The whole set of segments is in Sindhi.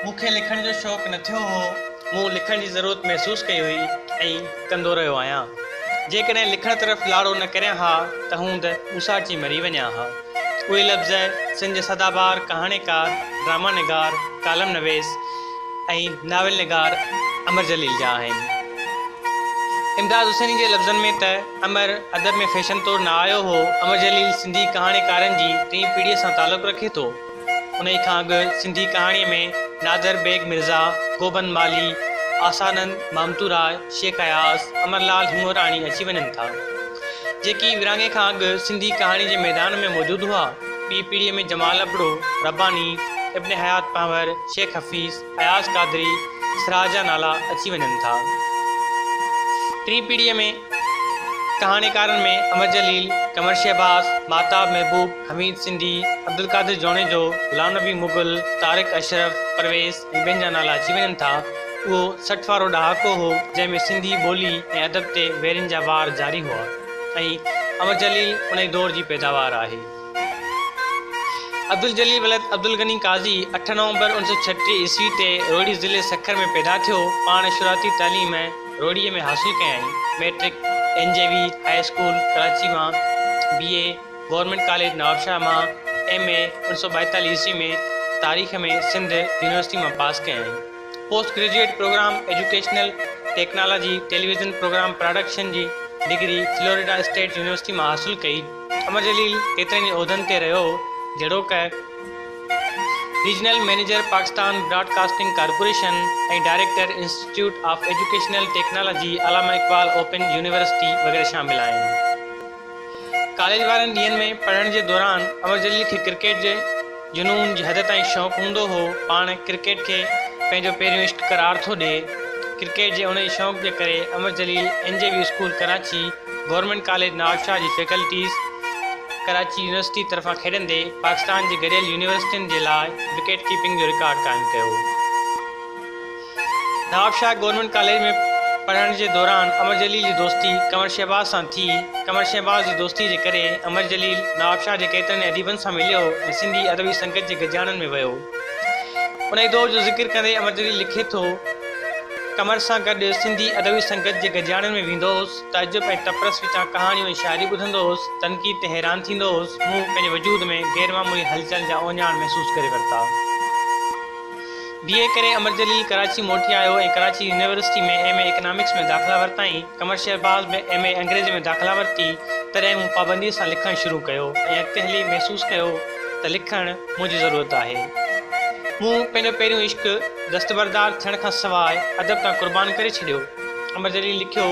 مون کي لکڻ جو شوق نه ٿيو هو. مون لکڻ جي ضرورت محسوس ڪئي هئي ۽ ڪندو رهيو آهيان. جيڪڏهن لکڻ طرف لاڙو نه ڪريان ها ته هوند اوساٽجي مري وڃان ها. اهي لفظ سنڌ جي سدا بهار ڪهاڻيڪار، ڊرامانگار، ڪالم نويس، ۽ ناول نگار امر جليل جا آهن. امداد حسيني جي لفظن ۾ ته امر ادب ۾ فيشن طور نه آيو هو، امر جليل سنڌي ڪهاڻيڪارن جي ٽين پيڙهيء سان تعلق رکي ٿو. انهيء کان اڳ سنڌي ڪهاڻيء ۾ نادر بيگ مرزا، گوبند مالهي، آسانند مامتوراء، شيخ اياز، امر لعل هڱوراڻي اچي وڃن ٿا، جيڪي ورهاڱي کان اڳ سنڌي ڪهاڻي جي ميدان ۾ موجود هئا. ٻي پيڙهيء ۾ جمال ابڙو، رباني، ابن حيات پنهور، شيخ حفيظ، اياز قادري، سراج جا نالا اچي وڃن ٿا. ٽين پيڙهيء ۾ ڪهاڻيڪارن ۾ امر جليل، قمر شهباز، ماهتاب محبوب، حميد سنڌي، عبدالقادر جوڻيجو، غلام نبي مغل، طارق اشرف، پرويز ۽ ٻين جا نالا اچي وڃن ٿا. اهو سٺ وارو ڏهاڪو هو، جنهن ۾ سنڌي ٻولي ۽ ادب تي ويرين جا وار جاري هئا. ۽ امر جليل ان ئي دور جي پيداوار آهي. عبدالجليل ولد عبدالغني قاضي اٺ نومبر اوڻ سؤ ڇٽيهه عيسوي تي روهڙي ضلعي سکر ۾ پيدا ٿيو. پاڻ شروعاتي تعليم روهڙيء ۾ حاصل ڪيائين. Matric N J V high school Karachi مان، B A government college Nawabshah مان، ايم اي اوڻ سؤ ٻائيتاليهه عيسوي ۾ تاريخ ۾ سنڌ يونيورسٽي مان پاس ڪيائين. Post graduate programme educational technology, television programme production جي ڊگري فلوريڊا اسٽيٽ يونيورسٽي مان حاصل ڪئي. امر جليل ڪيترن ئي عهدن تي رهيو هو، جهڙوڪ، regional manager Pakistan broadcasting corporation ۽ director institute of educational technology, Allama Iqbal open university وغيره شامل آهن. ڪاليج وارن ڏينهن ۾ پڙهڻ جي دوران امر جليل کي ڪرڪيٽ جي جنون جي حد تائين شوق هوندو هو. پاڻ ڪرڪيٽ کي پنهنجو پهريون عشق قرار ٿو ڏئي. ڪرڪيٽ جي انهيء شوق جي ڪري Amar Jaleel N J V school Karachi, government college Nawabshah جي فيڪلٽيز، ڪراچي يونيورسٽي طرفان کيڏندي پاڪستان جي گڏيل يونيورسٽين جي لاء وڪيٽ ڪيپنگ جو رڪارڊ قائم ڪيو. نوابشاهه گورنمينٽ ڪاليج ۾ پڙهڻ جي دوران امر جليل جي دوستي قمر شهباز سان ٿي. قمر شهباز جي دوستي جي ڪري امر جليل نوابشاهه جي ڪيترن ئي اديبن سان مليو ۽ سنڌي ادبي سنگت جي گڏجاڻن ۾ ويو. انهيء دور جو ذڪر ڪندي امر جليل لکي ٿو، قمر سان گڏ سنڌي ادبي سنگت جي گڏجاڻن ۾ ويندو هوس، تعجب ۽ تپرس وچان ڪهاڻيون ۽ شاعري ٻڌندو هوس، تنقيد تي حيران ٿيندو هوس، مون پنهنجي وجود ۾ غيرمعمولي هلچل جا اوهڃاڻ محسوس ڪري ورتا. بي اي ڪري امر جليل ڪراچي موٽي آيو ۽ Karachi university ۾ M A economics ۾ داخلا ورتائين. قمر شهباز به ايم اي انگريزي ۾ داخلا ورتي. تڏهن مون پابنديء سان لکڻ شروع ڪيو ۽ اڳتي هلي محسوس ڪيو ته لکڻ منهنجي ضرورت آهي. مون پنهنجو پهريون عشق دستبردار ٿيڻ کان سواء ادب تان قربان ڪري ڇڏيو. امر جليل لکيو.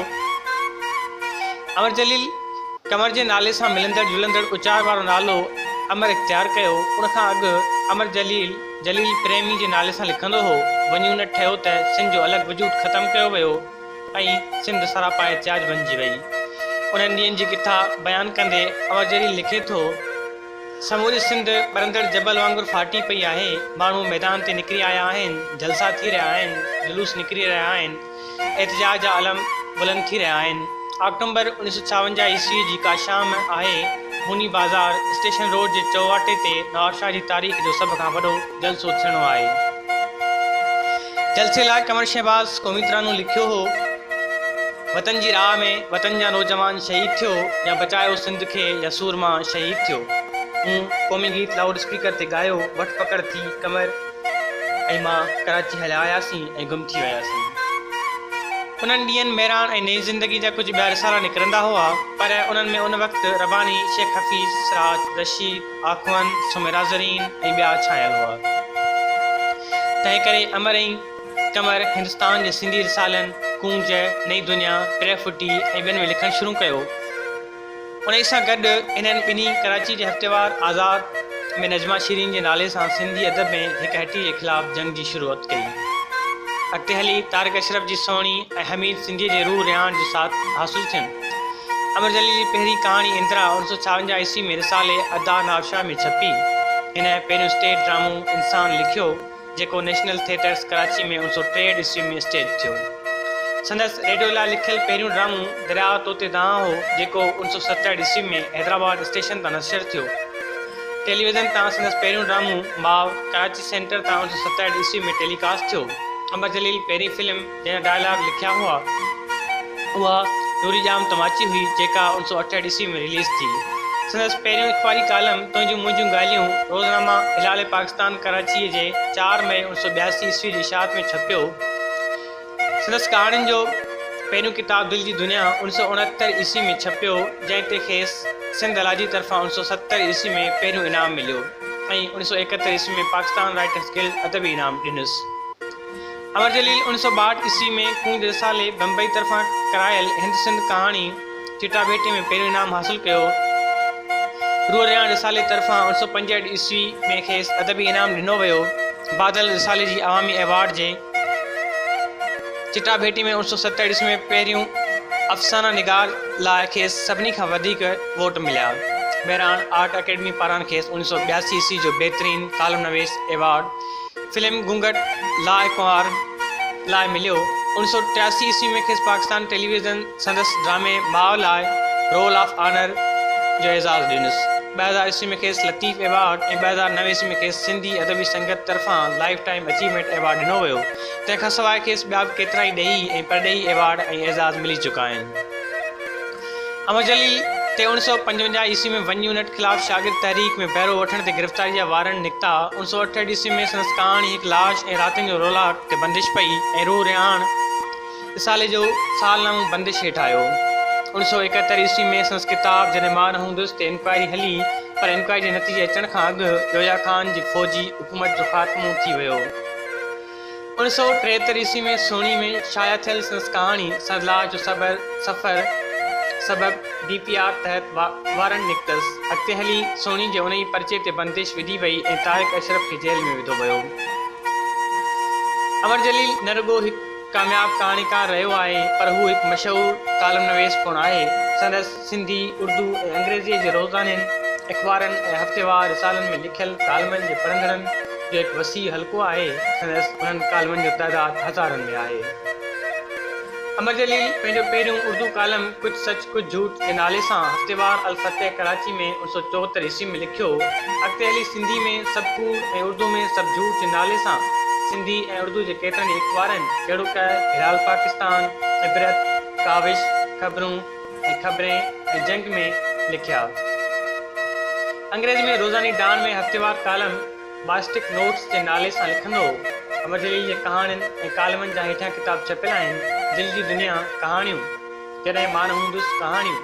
امر جليل قمر جي نالي سان ملندڙ جلندڙ اچار وارو نالو امر اختيار ڪيو. ان کان اڳ امر جليل. جليل پريمي جي نالي سان لکندو هو، وڃي ان ٺهيو ته سنڌ جو الڳ وجود ختم ڪيو ويو ۽ سنڌ سراپا احتجاج بنجي وئي. انهن ڏينهن جي ڪٿا بيان ڪندي امر جليل لکي ٿو، سموري سنڌ ٻرندڙ جبل وانگر ڦاٽي پئي آهي، ماڻهو ميدان تي نڪري آيا آهن، جلسا ٿي رهيا آهن، جلوس نڪري رهيا آهن، احتجاج جا علم بلند ٿي رهيا آهن. آڪٽومبر اوڻيھ سؤ ڇاونجاھ عيسويء جي ڪا شام آهي، هوني بازار اسٽيشن روڊ جي چوواٽي تي نوابشاھ جي تاريخ جو سڀ کان وڏو جلسو ٿيڻو آهي. جلسي لاء قمر شهباز ڪوميترانو لکيو هو، وطن جي راھ ۾ وطن جا نوجوان شهيد ٿيو يا بچايو سنڌ کي يا سورما شهيد ٿيو. مون قومي گيت لائوڊ اسپيڪر تي ڳايو، وٺ پڪڙ ٿي قمر. ۽ مان ڪراچي هليا آياسين ۽ گم ٿي وياسين. انهن ڏينهن ميراڻ ۽ نئين زندگي جا ڪجهه ٻيا رسالا نڪرندا هئا، پر انهن ۾ ان وقت رباني، شيخ حفيظ، سراج، رشيد، آخوند، سميرا زرين ۽ ٻيا ڇانيل هئا. تنهن ڪري امر ۽ قمر هندستان جي سنڌي رسالن، ڪونج، نئين دنيا، ٽي فٽي ۽ ٻين ۾ لکڻ شروع ڪيو. انهيء سان گڏ انهن ٻنهي ڪراچيء جي هفتيوار آزاد ۾ نجمه شيرين جي نالي سان سنڌي ادب ۾ هڪ هٽيء جي خلاف جنگ جي شروعت ڪئي. اڳتي هلي طارق اشرف جي سهڻي ۽ حميد سنڌيء جي روح رهاڻ جو ساٿ حاصل ٿين. امر جليل جي پهرين ڪهاڻي اندرا اوڻ سؤ ڇاونجاهه عيسوي ۾ رسالي ادا ناوشاهه ۾ ڇپي. هن پهريون اسٽيج ڊرامو انسان لکيو. جيڪو نيشنل ٿيٽرز ڪراچي ۾ اڻ سؤ ٽي عيسوي ۾ اسٽيج ٿيو. سندس ريڊيو لاء لکيل پهريون ڊرامو درياء طوطي دانهن هو، جيڪو اڻ سؤ ستهٺ عيسوي ۾ حيدرآباد اسٽيشن تان نشر ٿيو. ٽيلي ويزن تان سندس پهريون ڊرامو ماء ڪراچي سينٽر تان اڻ سؤ ستهٺ عيسوي ۾ ٽيلي ڪاسٽ ٿيو. امر جليل پهرين فلم. جنهن ڊائلاگ لکيا هئا اها نوري ڄام تماچي هئي جيڪا اڻ سؤ اٺهٺ عيسوي ۾ رليز ٿي. سندس پهريون اخباري ڪالم تنهنجون منهنجون ڳالهيون روزنامه هلال پاڪستان ڪراچيء جي چار مئي اڻ سؤ ٻياسي عيسوي جي اشاعت ۾ ڇپيو. سندس ڪهاڻين جو پهريون ڪتاب دل جي دنيا اڻ سؤ اڻهتر عيسوي ۾ ڇپيو جنهن تي کيس سنڌ الاجي طرفان اڻ سؤ ستر عيسوي ۾ پهريون انعام مليو ۽ اڻ سؤ ايڪهتر عيسوي ۾ پاڪستان رائيٽرس گلڊ ادبي انعام ڏنس. امر جليل اوڻيھ سؤ ٻاھٺ عيسوي ۾ ڪونج رسالي بمبئي طرفان ڪرايل ھند سنڌ ڪهاڻي چٽاڀيٽي ۾ پهريون انعام حاصل ڪيو. روح رياڻ رسالي طرفان اوڻيھ سؤ پنجهٺ عيسوي ۾ کيس ادبي انعام ڏنو ويو. بادل رسالي جي عوامي ايوارڊ جي چٽاڀيٽي ۾ اوڻيھ سؤ ستهٺ عيسوي ۾ پهريون افسانه نگار لاء کيس سڀني کان وڌيڪ ووٽ مليا. مهراڻ آرٽ اڪيڊمي پاران کيس اوڻيھ سؤ ٻياسي عيسوي جو بهترين ڪالم نويس ايوارڊ فلم گهونگهٽ لاء ڪنوار لاء مليو. اوڻيھ سؤ ٽياسي عيسوي ۾ کيس پاڪستان ٽيلي ويزن سندس ڊرامي ماء لاء رول آف آنر جو اعزاز ڏنس. ٻه هزار عيسوي ۾ کيس لطيف ايوارڊ ۽ ٻه هزار نو عيسوي ۾ کيس سنڌي ادبي سنگت طرفان لائيف ٽائيم اچيومينٽ ايوارڊ ڏنو ويو. تنهن کان سواء کيس ٻيا به ڪيترائي ڏيهي ۽ پرڏيهي ايوارڊ ۽ اعزاز ملي چڪا آهن. احمد جعلي تي اوڻ سؤ پنجونجاهه عيسوي ۾ ون يونٽ خلاف شاگرد تحريڪ ۾ بهرو وٺڻ تي گرفتاري جا وارنٽ نڪتا. اوڻ سؤ اٺهٺ عيسوي ۾ سندس ڪهاڻي هڪ لاش ۽ راتين جو رولاڪ تي بندش پئي ۽ روح رهاڻ رسالي جو سالنامو بندش هيٺ آيو. اوڻ سؤ ايڪهتر عيسوي ۾ سندس ڪتاب جڏهن مان نه هوندس تي انڪوائري هلي پر انڪوائري جي نتيجي اچڻ کان اڳ جويا خان جي فوجي حڪومت جو خاتمو ٿي ويو. اوڻ سؤ ٽيهتر عيسوي ۾ سهڻي ۾ شايع ٿيل سندس ڪهاڻي سرلاء جو صبر سفر سبب ڊي پي آر تحت وارنٽ نڪتس. اڳتي هلي سهڻي جي انهيء پرچي تي بندش وڌي وئي ۽ طارق اشرف کي جيل ۾ وڌو ويو. امر جليل نه رڳو هڪ ڪامياب ڪهاڻيڪار رهيو آهي پر هو هڪ مشهور ڪالم نويس پڻ آهي. سندس. سنڌي، اردو ۽ انگريزيء جي روزانين اخبارن ۽ هفتيوار رسالن ۾ لکيل ڪالمن جي پڙهندڙن جو هڪ وسيع حلقو آهي، سندس انهن ڪالمن جو تعداد هزارن ۾ آهي. امر جليل پنهنجو پهريون اردو ڪالم ڪچ سچ ڪچ جھوٽ جي نالي سان هفتيوار الفتح ڪراچي ۾ اوڻ سؤ چوهتر عيسوي ۾ لکيو، اڳتي هلي سنڌي ۾ سڀ ڪوڙ ۽ اردو ۾ سڀ جھوٽ جي نالي سان سنڌي ۽ اردو جي ڪيترن ئي اخبارن جهڙوڪ، هلال پاڪستان، عبرت، ڪاوش، خبرون، ۽ خبرين ۽ جنگ ۾ لکيا. انگريزي ۾ روزاني ڊان ۾ هفتيوار ڪالم Bostic Notes جي نالي سان لکندو هو. امر جليل جي ڪهاڻين ۽ ڪالمن جا هيٺيان ڪتاب ڇپيل آهن، دل جي دنيا، ڪهاڻيون، جڏهن مان نه هوندس، ڪهاڻيون،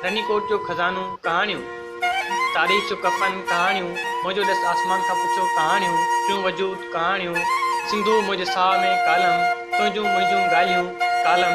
رني ڪوٽ جو خزانو، ڪهاڻيون، تاريخ جو ڪفن، ڪهاڻيون، منهنجو ڏس آسمان کان پڇو، ڪهاڻيون، ٽيون وجود، ڪهاڻيون، سنڌوء منهنجي ساهه ۾، ڪالم، تنهنجون منهنجون ڳالهيون، ڪالم،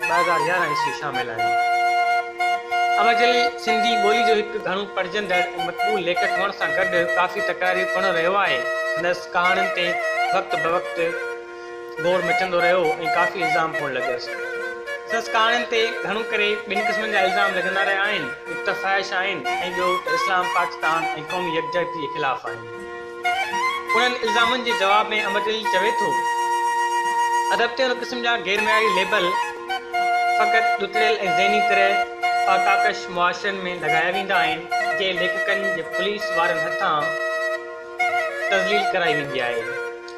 ٻه هزار يارهن عيسوي شامل آهي. احمد جليل سنڌي ٻولي جو هڪ گهڻو پڙهجندڙ ۽ مقبول ليکڪ هئڻ سان گڏ ڪافي تڪراري پڻ رهيو آهي. سندس ڪهاڻين تي وقت بوقت گوڙ مچندو رهيو ۽ ڪافي الزام پڻ لڳس. سندس ڪهاڻين تي گهڻو ڪري ٻن قسمن جا الزام لڳندا رهيا آهن، هڪ ته فحش آهن ۽ ٻيو ته اسلام، پاڪستان ۽ قومي يڪجهتيء خلاف آهن. انهن الزامن جي جواب ۾ امرجليل چوي ٿو، ادب تي ان قسم جا غير معياري ليبل فقط ڏتڙيل ۽ ذهني طرح فاقاڪش معاشرن ۾ لڳايا ويندا آهن، جي ليکڪن جي پوليس وارن هٿان تذليل ڪرائي ويندي آهي.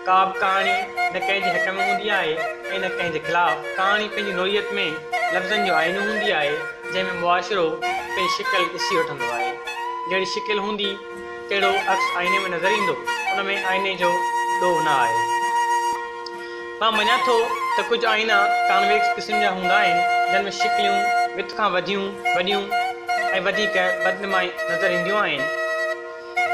ڪابه ڪهاڻي نه ڪنهن جي حق ۾ هوندي آهي ۽ نه ڪنهن جي خلاف. ڪهاڻي پنهنجي نوعيت ۾ لفظن جو آئينو هوندي آهي، جنهن ۾ معاشرو پنهنجي شڪل ڏسي وٺندو آهي. جهڙي شڪل هوندي. تهڙو عڪس آئيني ۾ نظر ايندو، ان ۾ آئيني جو ڏوهه نه آهي. مان مڃان ٿو ته ڪجهه آئينا ڪانويڪس قسم جا هوندا آهن، جن ۾ شڪليون وٿ کان وڌيون، وڏيون ۽ وڌيڪ بدنمائي نظر اينديون آهن.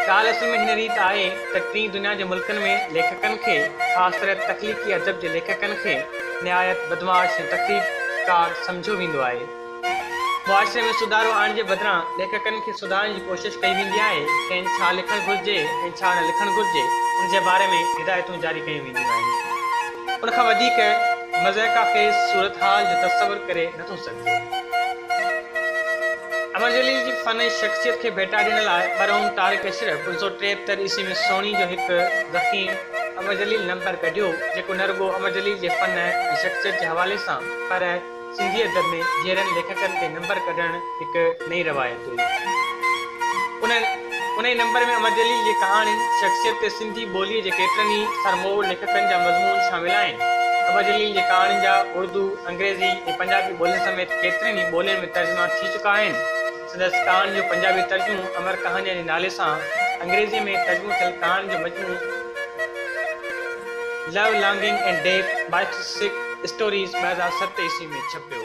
ڳالهه اصل ۾ هن ريت آهي ته ٽين دنيا جي ملڪن ۾ ليکڪن کي، خاص طرح تخليقي ادب جي ليکڪن کي نهايت بدمعاش ۽ تخريبڪار سمجهيو ويندو آهي. معاشري ۾ سڌارو آڻڻ جي بدران ليکڪن کي سڌارڻ جي ڪوشش ڪئي ويندي آهي، کين ڇا لکڻ گهرجي ۽ ڇا نه لکڻ گهرجي ان جي باري ۾ هدايتون جاري ڪيون وينديون آهن. ان کان وڌيڪ مضحڪه خيز صورتحال جو تصور ڪري نه ٿو سگهجي. امر جليل جي فن ۽ شخصيت کي ڀيٽا ڏيڻ لاء مرحوم طارق اشرف پنج سؤ ٽيهتر عيسوي ۾ سهڻي جو هڪ ضخيم امر جليل نمبر ڪڍيو جيڪو نه رڳو امر جليل جي فن ۽ شخصيت جي حوالي سان پر سنڌي ادب ۾ جيئرن ليکڪن تي نمبر ڪڍڻ هڪ نئين روايت هئي. ان انهيء نمبر ۾ امر جليل جي ڪهاڻين، شخصيت تي سنڌي ٻوليء جي ڪيترن ئي سرموء ليکڪن جا مضمون شامل آهن. امر جليل جي ڪهاڻين جا اڙدو، انگريزي ۽ پنجابي ٻولين سميت ڪيترين ئي ٻولين ۾ ترجما ٿي چڪا آهن. سندس ڪهاڻين جو پنجابي ترجمو امر ڪهانيان جي نالي سان انگريزيء ۾ ترجمو ٿيل ڪهاڻين جو مجموعو Love Longing and Death Biographic Stories ٻه هزار ست عيسوي ۾ ڇپيو.